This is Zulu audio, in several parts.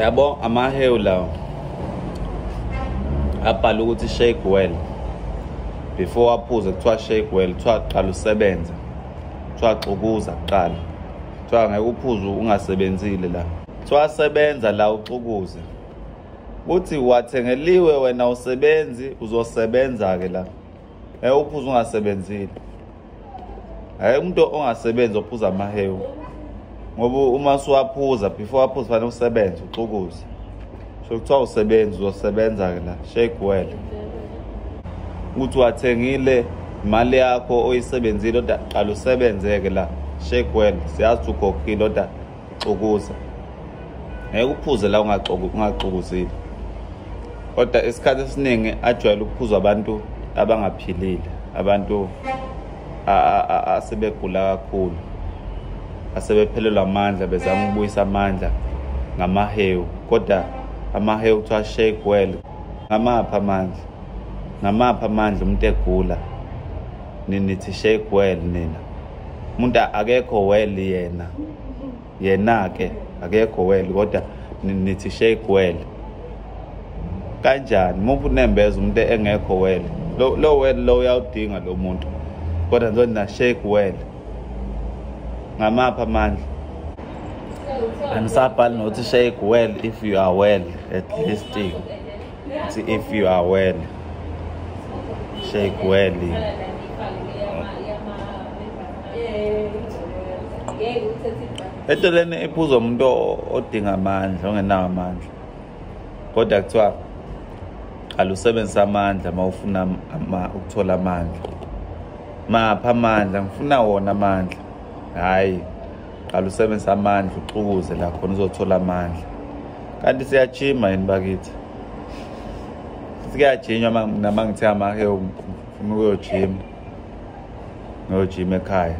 yabo amahewu lawo abhala ukuthi shake well before aphuze kuthiwa shake well kuthiwa qala usebenze kuthiwa xukuza kuqala kuthiwa ngeke uphuze ungasebenzile la kuthiwa sebenza la uxukuze kuthi wathengeliwe wena usebenzi uzosebenza-ke la Eh uphuza ungasebenzile. Hayi umuntu ongasebenzi ophuza amahewu. Ngoba uma suwaphuza before aphuza fanele usebenze uxukuze. So kuthiwa usebenzi uzosebenza ke la shake well. Ukuthi wathengile imali yakho oyisebenzile oda qala usebenzeke la shake well siyazi ukhokhile oda xokuza ngeke uphuze la ungaxokuzile kodwa isikhathi esiningi ajwayele ukuphuzwa abantu abangaphilile abantu asebegula kakhulu asebephelelwa amandla bezama ukubuyisa amandla ngamahewu kodwa amahewu kuthiwa shake well ngamaphi amandla ngamaphi amandla umuntu egula ninithi shake well nina umuntu akekho well yena yena ke akekho well kodwa nithi shake well kanjani muphi unembeza umuntu engekho well lo lo well lo uyawudinga lo muntu kodwa nzo na shake well ngamapha amandla anisabhali nothi shake well if you are well at least It's if you are well. Shake well. Edoleni ephuza umuntu odinga amandla ongenawo amandla. Kodwa kuthiwa qala usebenzisa amandla uma ufuna ukuthola amandla. Mapha amandla ngifuna wona amandla. Hayi. qala usebenzisa amandla uxukuze la khona uzothola amandla kanti siyajima yini bakithi sikuyajinywa nama ngithe amake ufuna ukuyojima ngiyojima ekhaya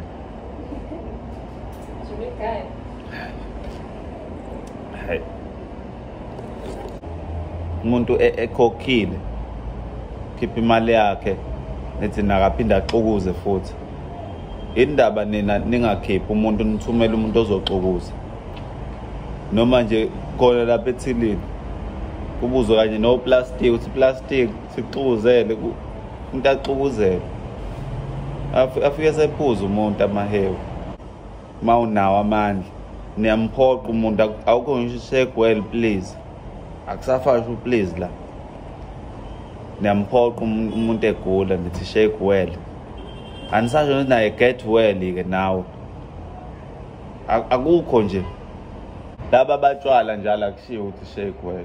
Hey. umuntu e-, ekhokhile khipha imali yakhe nithi nakaphinde axukuze futhi indaba nina ningakhiphi umuntu nithumele umuntu ozoxukuza noma nje khona lapha ethilini kubuzwe kanye noplastic ukuthi plastic sixukuzele umuntu axukuzele afike sephuza umuntu amahewu uma unawo amandla niyamphoqa umuntu awukho ngisho isegwel please akusafashwa please la niyamphoqa umuntu egula nithi shake well anisasho ukuthi naye get well-ke nawe akukho nje laba batshwala njalo akushiwo ukuthi shake well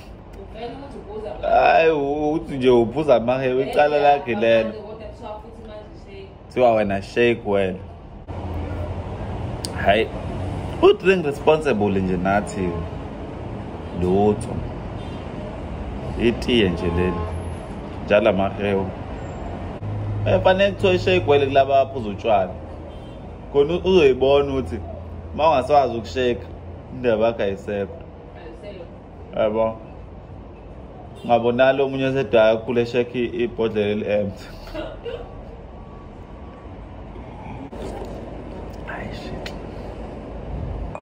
hayi uthi nje uphuza amahewu icala lakhe lelo kuthiwa wena shake wena hayi u-drink responsible nje nathi lutho itiye nje leli njalo amahewu efanele eh, kuthiwa ishake wele kulaba baphuza utshwala khona uzoyibona ukuthi uma ungasawazi ukusheka indaba yakho ayisekho yabo ngabo nalo omunye osedaya ukhule shekhe ibhodlela eli-empty